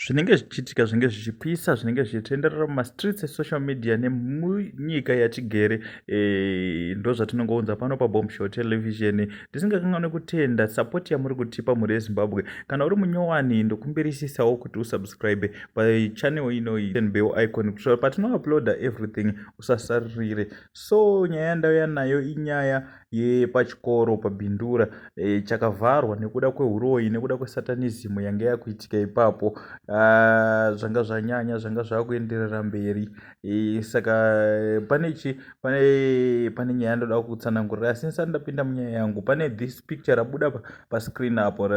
zvinenge zvichiitika zvinenge zvichipisa zvinenge zvichitenderera mumastreets esocial media nemunyika yatigere e, ndo zvatinongounza pano pabombshow television tisingakanganwe kutenda sapoti yamuri kutipa mhuri yezimbabwe kana uri munyowani ndokumbirisisawo kuti usubscribe pachanel inoyi bell icon kuitira patinouploada everything usasaririre so nyaya yandauya nayo inyaya yepachikoro paBindura e, chakavharwa nekuda kwehuroyi nekuda kwesatanism yange yakuitika ipapo ah, zvanga zvanyanya zvanga zvakuenderera mberi e, saka pane chi pane pane nyaya ndoda kutsanangurira asi ndisati ndapinda munyaya yangu pane this picture rabuda pascreen apo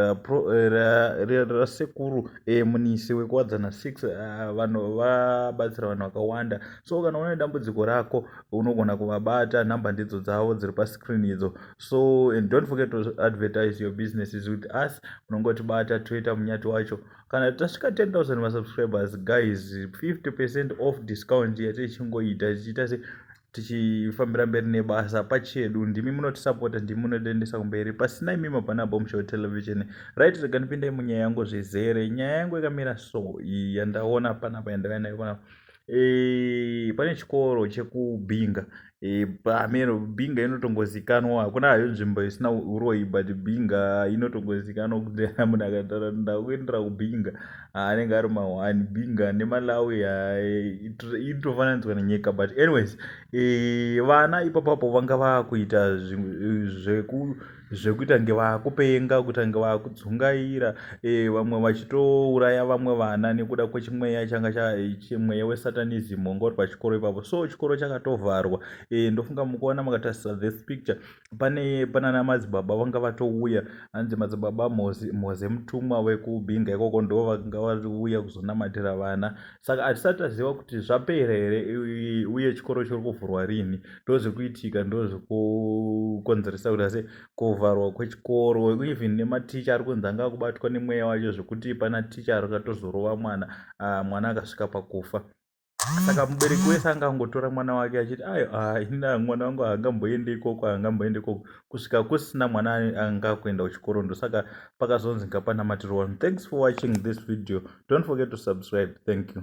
rasekuru e, munisi wekuwadzana 6 ah, vanhu vabatsira vanhu vakawanda so kana une dambudziko rako unogona kuvabata number ndidzo dzavo dziri pascreen idzo so and don't forget to advertise your businesses with us unongotibata toita munyati wacho kana tasvika 10000 masubscribers guys 50 percent off discount yatichingoita tichiita se tichifambira mberi nebasa pachedu ndimi munotisapota ndimi munotiendesa kumberi pasina imimi hapana bomshow television right rega ndipindai munyaya yangu zvizere nyaya yangu yakamira so yandaona panapa yandava nayo panapa Eh, pane chikoro chekubinga eh, pameno binga inotongozikanwa hakuna hayo nzvimbo isina uroyi but binga inotongozikanwa kuti munhu akatara ndakuendera kubinga ah, anenge ari mahwani binga nemalawi inotofananidzwa nenyika but anyways eh, vana ipapapo vanga vakuita zveku zvekuita kunge vakupenga kuita kunge vakudzungaira eh, vamwe vachitouraya vamwe vana nekuda kwechimweya changa eh, chimweya wesatanism wanga uri pachikoro ipapo so chikoro chakatovharwa eh, ndofunga mukuona makatarisa this picture pane panana madzibaba vanga vatouya hanzi madzibaba moze mutumwa wekubinga ikoko ndo vanga vauya kuzonamatira vana saka hatisati taziva kuti zvapera here uye chikoro chiri kuvhurwa rini ndozvikuitika ndozvikukonzeresa kuti ase kuvharwa kwechikoro even nematicha ari kunzi anga akubatwa nemweya wacho zvekuti pana ticha akatozorova mwana ah, mwana akasvika pakufa saka mubereki wese angangotora mwana wake achiti ayo ah, ina mwana wangu haangamboende ikoko haangamboende ikoko kusvika kusina mwana anga akuenda kuchikoro ndosaka pakazonzi ngapanamatirwa vanhu thanks for watching this video don't forget to subscribe thank you